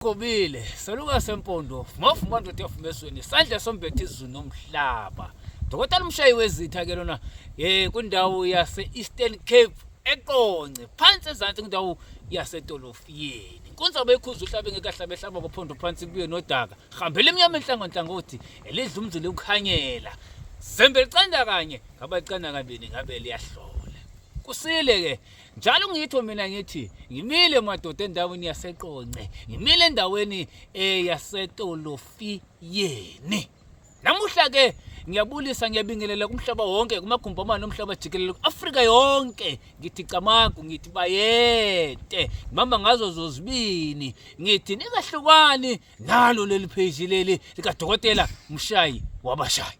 Qobile, seluka sempondo, mafu manje utefu mesweni, sandla sombethe izulu nomhlaba. Dokotela umshayi wezitha ke lona eh kundawo yase Eastern Cape eqonce phansi ezantsi kundawo yase Tolofiyeni. Inkunzi abekhuza uhlabe ngekahle abehlaba kophondo phansi kubuye nodaka. Hambela emnyama enhlango nhlangothi elidla umzile ukhanyela. Zembe licanda kanye, ngaba licanda kabili ngabe liyahlola. Kusile ke njalo ngitho mina ngithi ngimile madoda endaweni yaseqonce ngimile endaweni eyasetolofiyeni eh, namuhla ke ngiyabulisa ngiyabingelela kumhlaba wonke kumagumbomane omhlaba jikelele ku-afrika yonke ngithi camagu ngithi bayete ngibamba ngazo zozibini ngithi ningahlukani nalo leli pheji leli likadokotela mshayi wabashayi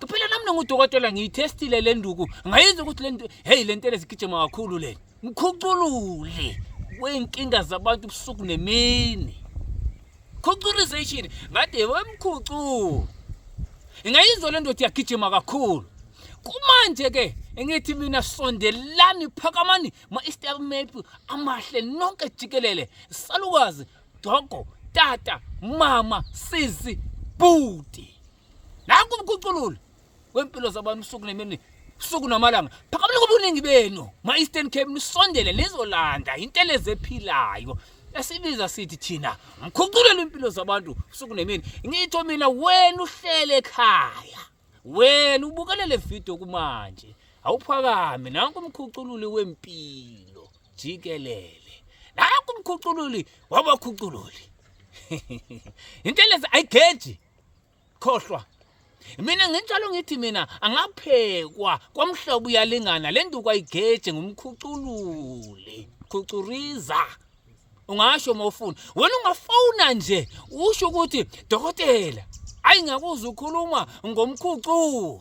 Kuphela nami nongudokotela ngiyithestile le nduku ngayizwa ukuthi le nto heyi le ntele zigijima kakhulu le mkhuculule wey'nkinga zabantu ubusuku nemini khuculization ngathi wemkhuculu ingayizwa le ndoda iyagijima kakhulu kumanje-ke engithi mina sondelani phakamani ma-easter map amahle nonke jikelele salukazi dogo tata mama sisi bhuti nanku umkhucululo wempilo zabantu usuku nemini usuku namalanga phakamela kobuningi benu ma-eastern cape nisondele nizolanda intelezi ephilayo esibiza sithi thina mkhuculelo impilo zabantu usuku nemini ngitho mina wena uhlele ekhaya wena ubukelele video kumanje awuphakame nanku umkhucululi wempilo jikelele nanku umkhucululi wabakhucululi intelezi ayigeji khohlwa mina nginjalo ngithi mina angaphekwa kwamhlobo uyalingana le nduku ayigeje ngumkhuculule khucuriza ungasho uma ufuna wena ungafona nje usho ukuthi dokotela ayi ngakuzwa ukhuluma ngomkhucu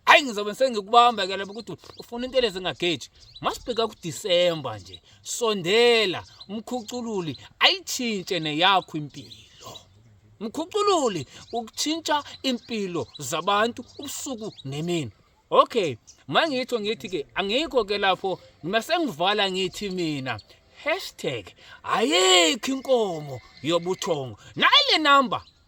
hayi ngizobe sengikubamba ke lapho ukuthi ufuna into eleze ngageji masibheka kuDisemba nje sondela umkhucululi ayitshintshe neyakho impilo mkhucululi ukutshintsha impilo zabantu ubusuku nemini okay mangitho ngithi ke angikho ke lapho ngimasengivala ngithi mina hashtag ayikho inkomo yobuthongo nayi le number